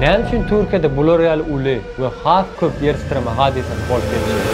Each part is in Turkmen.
Näme üçin Türkiýede bular ýaly uly we has köp ýer titreme hadysasy bolup geçýär?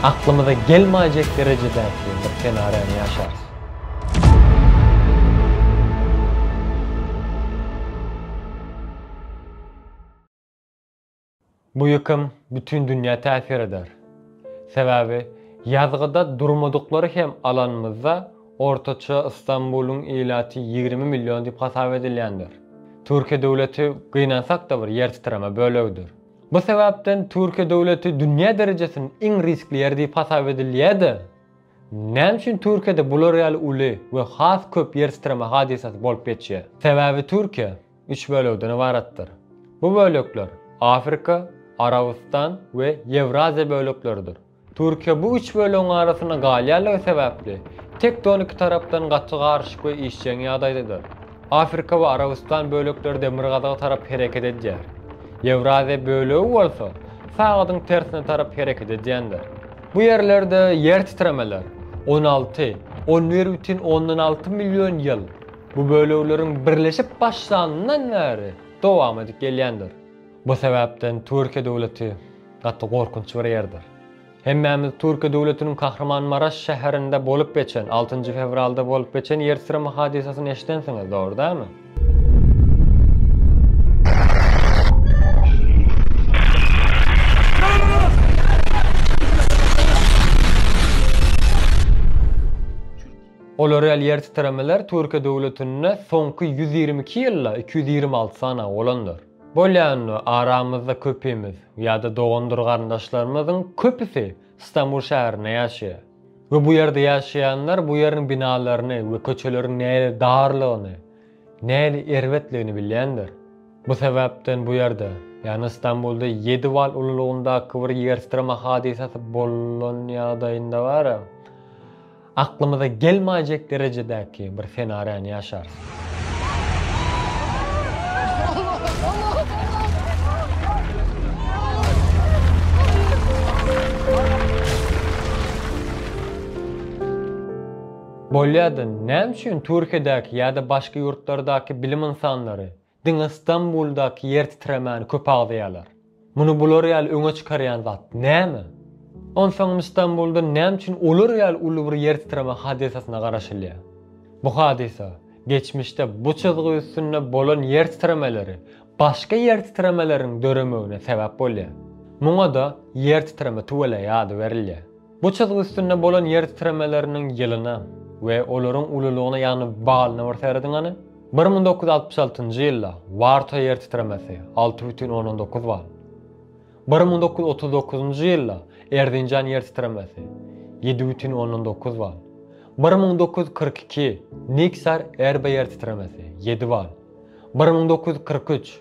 Aklymyza gelmäýjek derejedäki bir senaryýany ýaşarys. Bu ýykym bütin dünýä täsir eder. Sebäbi ýazgyda durmadyklary hem alanymyzda ortaça Istanbulyň ilaty ýigrimi million diýip hasap edilýändir. Türkiýe döwleti gynansak-da bir ýer titreme bölegidir. Bu sebäpden Türkiýe döwleti dünýä derejesinde iň riskli ýer diýip hasap edilýä-de. Näme üçin Türkiýede bular ýaly uly we has köp ýer titreme hadysasy bolup geçýär? Sebäbi Türkiýe üç bölekden ybaratdyr. Bu bölekler Afrika, Arabystan we Ýewraziýa bölekleridir. Türkiýe bu üç bölegiň arasynda galýanlygy sebäpli tektoniki tarapdan gaty garyşyk we işjeň ýagdaýdadyr. Afrika we Arabystan bölekleri demirgazyga tarap hereket edýär. Ýewraziýa bölegi bolsa sagadyň tersine tarap hereket edýändir. Bu ýerlerde ýer titremeler on alty, on bir bütin ondan alty million ýyl, bu bölegleriň birleşip başlanyndan bäri dowam edip gelýändir. Bu sebäpden Türkiýe döwleti gaty gorkunç bir ýerdir. Hemmämiz Türkiýe döwletiniň Kahramanmaraş şäherinde bolup geçen, altynjy fewralda bolup geçen ýer titreme hadysasyny eşidensiňiz, dogry dälmi? Olar ýaly ýer titremeler Türkiýe döwletinde soňky ýüz ýigrimi iki ýylda iki ýüz ýigrimi alty sany bolandyr. Bolýandy, aramyzda köpimiz, ýa-da dogandyr-garyndaşlarymyzyň köpüsi Stambul şäherinde ýaşaýar. we bu ýerde ýaşaýanlar bu ýeriň binalaryny we köçeleriň nähili darlygyny, nähili erbetligini bilýändir. Bu sebäpden bu ýerde, ýagny Stambulda ýedi bal ululygyndaky bir ýertitreme hadysasy bolan ýagdaýynda bara, aklymyza gelmäýjek derejedäki bir senariýany ýaşarys. Bolýa-da, näme üçin Türkiýedäki ýa-da başga ýurtlardaky bilim ynsanlary Diňe Stambuldaky ýer titremäni köp agzaýarlar. Muny bular ýaly öňe çykarýan zat näme? Onsoňam Stambulda näme üçin olar ýaly uly bir ýer titreme hadysasyna garaşylýar? Bu hadysa, geçmişde bu çyzgy üstünde bolan ýer titremeleri başga ýer titremeleriniň döremegine sebäp bolýar. Muňa-da ýer titreme tüweleýi ady berilýär. Bu çyzgy üstünde bolan ýer titremeleriniň ýylyna we olaryň ululygyna ýagny balyna bir serediň hany. Bir müň dokuz ýüz altmyş altynjy ýylda Warta ýer titremesi, alty bütin ondan dokuz bal. Bir müň dokuz ýüz otuz dokuzynjy ýylda Erzinjan ýer titremesi, ýedi bütin ondan dokuz bal. Bir müň dokuz ýüz kyrk iki Niksar Erbe ýer titremesi, ýedi bal. Bir müň dokuz ýüz kyrk üç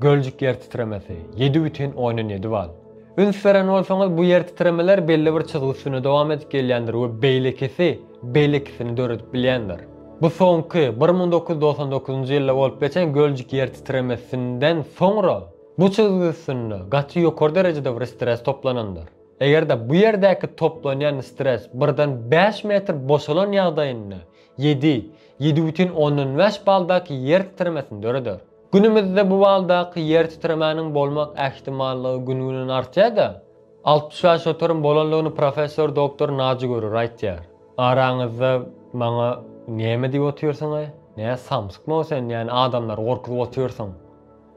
Göljük ýer titremesi, ýedi bütin ondan ýedi bal. Üns beren bolsaňyz, bu ýer titremeler belli bir çyzgy üstünde dowam edip gelýändir we beýlekisi beýlekisini döredip bilýändir. Bu soňky, bir müň dokuz ýüz dogsan dokuzynjy ýylda bolup geçen Göljük ýer titremesinden soňra bu çyzgy üstünde gaty ýokary derejede bir stres toplanandyr. Eger-de bu ýerdäki toplanýan stres birden bäş metr boşalan ýagdaýynda ýedi, ýedi bütin ondan bäş baldaky ýer titremesini döreder. Günümizde bu baldaky ýer titremäniň bolmak ähtimallygy gün-günden artýar-da, altmyş bäş oturyň bolanlygyny professor doktor Naji Görür aýtýar. Araňyzda maňa Näme diýip otyrsyň-aý? Nä, samsykmy-ow sen, ýäni adamlary gorkuzyp otyrsyň?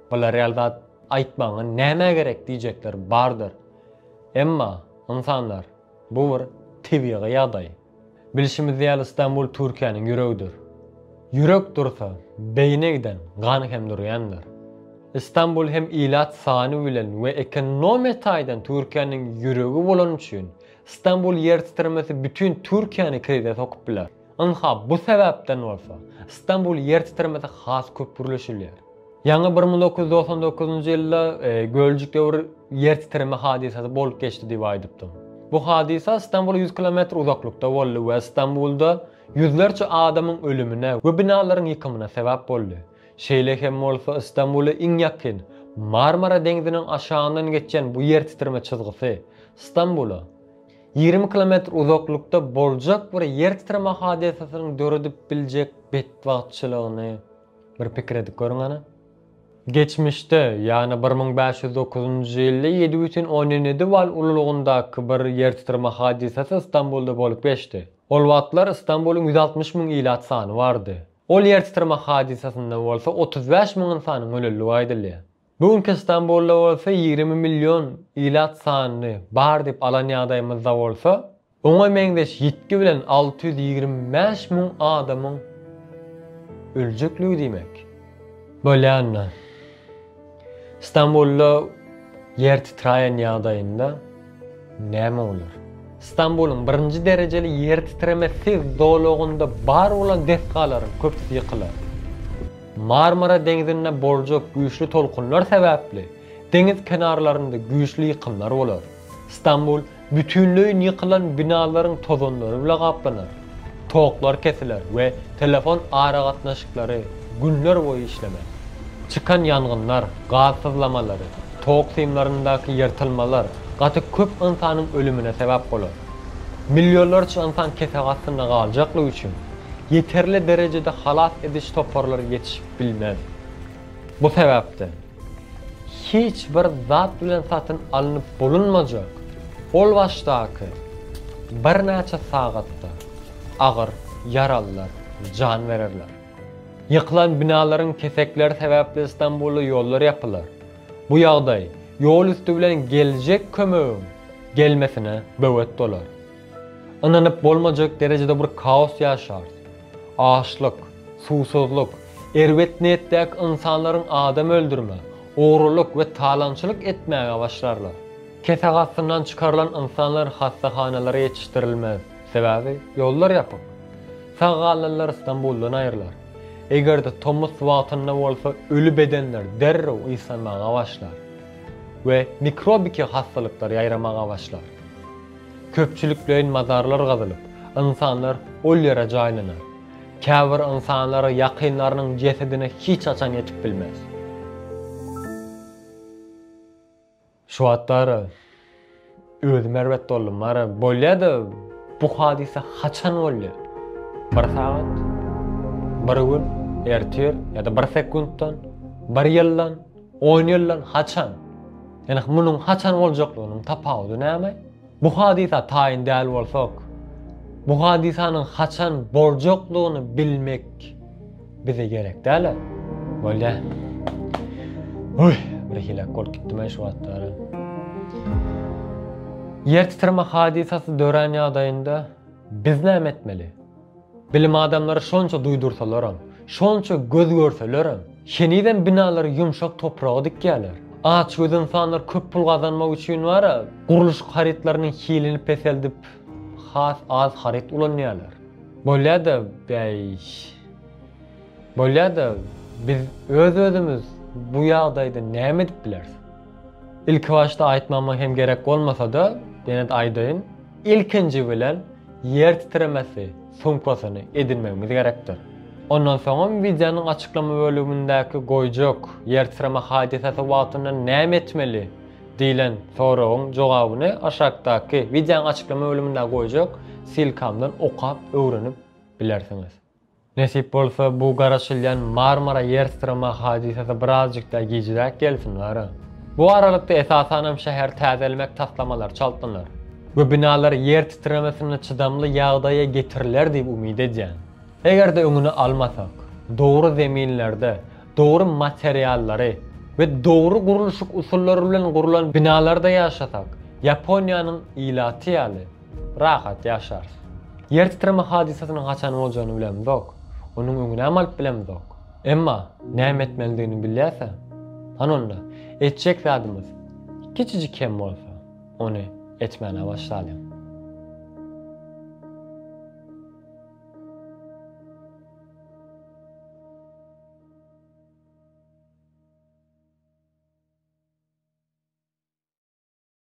Bular ýaly zat aýtmagyňa näme gerek diýjekler bardyr. Emma, ynsanlar, bu bir tebigy ýagdaý. Bilşimiz ýaly Stambul Türkiýäniň ýüregidir. Ýürek dursa, beýine giden gan hem durýandyr. Stambul hem ilat sany bilen we ekonomiýa taýdan Türkiýäniň ýüregi bolany üçin Stambul ýer titremesi bütin Türkiýäni krize sokup biler. Ynha bu sebäpden bolsa Stambul ýer titremesi has köp gürleşilýär. Ýaňy bir müň dokuz ýüz togsan dokuzynjy ýylda Göljük döwür ýer titreme hadysasy bolup geçdi diýip aýdypdym. Bu hadysa Stambula ýüz kilometr uzaklykda boldy we Stambulda ýüzlerçe adamyň ölümine we binalaryň ýykymyna sebäp boldy. Şeýle hem bolsa Stambula iň ýakyn, Marmara deňziniň aşagyndan geçýän bu ýer titreme çyzgysy Stambula ýigrimi kilometr uzaklykda boljak bir ýer titreme hadysasynyň döredip biljek betbagtçylygyny Bir pikir edip görüň hany. Geçmişde, ýagny bir müň bäş ýüz dokuzynjy ýylda ýedi bütin ondan ýedi bal ululygyndaky bir ýertitreme hadysasy Stambulda bolup geçdi. Ol wagtlar Stambulyň ýüz altmyş müň ilat sany bardy. Ol ýertitreme hadysasynda bolsa otuz bäş müň ynsanyň ölendigi aýdylýar. Bu günki Stambulda bolsa ýigrimi million ilat sanyny bar diýip alan ýagdaýymyzda bolsa, oňa meňzeş ýitgi bilen alty ýüz ýigrimi bäş müň adamyň öljekligi diýmek. Bolýanda, Stambulda ýer titraýen ýagdaýynda, Näme bolar? Stambulyň birinji derejeli ýertitreme siz zolagynda bar bolan desgalaryň köpüsi ýykylar. Marmara deňzinde boljak güýçli tolkunlar sebäpli deňiz kenarlarynda güýçli ýykymlar bolar. Stambul bütinleýin ýykylan binalaryň tozanlary bile gaplanar. Toklar kesiler we telefon aragatnaşyklary günler boýy işlemez. Çykan ýangynlar, gaz syzlamalary, tok simlaryndaky ýyrtylmalar gaty köp ynsanyň ölümine sebäp bolar. Millionlarça ynsan kesek astynda galjaklygy üçin, ýeterli derejede halas ediş toparlary ýetişip bilmez. Bu sebäpden. Hiç bir zat bilen satyn alnyp bolunmajak ol başdaky birnäçe sagatda agyr ýaralylar jan bererler. Ýykylan binalaryň kesekleri sebäpli Stambulda ýollar ýapylar. Bu ýagdaý ýol üsti bilen geljek kömegiň gelmesine böwet bolar. Ynanyp bolmajak derejede bir kaos ýaşars. Açlyk, suwsuzlyk, erbet niýetdäki ynsanlaryň adam öldürme, ogrulyk we talaňçylyk etmäge başlarlar. Kesek astyndan çykarylan ynsanlar hassahanalara ýetişdirilmez, sebäbi ýollar ýapyk. Sag galanlar Stambuldan aýrylar. Eger-de tomus wagtynda bolsa öli bedenler derrew ysganmaga başlar we mikrobiki hassalyklar ýaýramaga başlar. Köpçülikleýin mazarlar gazylyp, ynsanlar ol ýere jaýlanar. Käbir ynsanlar ýakynlarynyň jesedine hiç haçan ýetip bilmez. Şu wagtlar özüm erbet boldum. Mara bolýa-da, bu hadysa haçan boldy? Bir sagat? Bir gün? Ertir? Ýa-da bir sekuntdan? Bir ýyldan? On ýyldan haçan? Ýöne munuň haçan boljaklygynyň tapawudy näme? Bu hadysa taýyn däl bolsak, bu hadysanyň haçan boljaklygyny bilmek bize gerek däl-ä? Bolýa. Uý, birhili-ä bolup gitdi men şu wagtlar. Ýer titreme hadysasy dörän ýagdaýynda biz näme etmeli? Bilim adamlary şonça duýdursalaram, şonça göz görselerem, henizem binalary ýumşak topraga dikýärler. Açgöz ynsanlar köp pul gazanmak üçin bar-a, gurluşyk harytlarynyň hilini peseldip, has az haryt ulanýarlar. Bolýa-da, bäý, bolýa-da, biz öz-özümiz bu ýagdaýda näme edip bileris? Ilkibaşda aýtmama hem gerek bolmasa-da, ýene-de aýdaýyn. Ilkinji bilen ýer titremesi sumkasyny edinmegimiz gerekdir. Ondan soňam wideonyň açyklama bölümindäki Goýjak ýer titreme hadysasy wagtynda näme etmeli? diýlen soragyň jogabyny aşakdaky wideonyň açyklama bölümindäki goýjak ssilkamdan okap öwrenip bilersiňiz. Nesip bolsa bu garaşylýan Marmara ýersyryma hadysasy birazjykda gijräk gelsin wara. Bu aralykda esasanam şäheri täzelemek taslamalary çaltlanar we binalar ýer titremesine çydamly ýagdaýa getiriler diýip umyt edýän. Eger-de öňüni almasak, dogry zeminlerde, dogry materiallary we dogry gurluşyk usullary bilen gurlan binalarda ýaşasak, Ýaponiýanyň ilaty ýaly, Rahat ýaşarys. Ýer titreme hadysasynyň haçan boljagyny bilemizok. Onuň öňünem alyp bilemizok. Emma näme etmelidigini bilýäsä? Hany onda, etjek zadymyz kiçijik hem bolsa, ony etmäne başlalyň.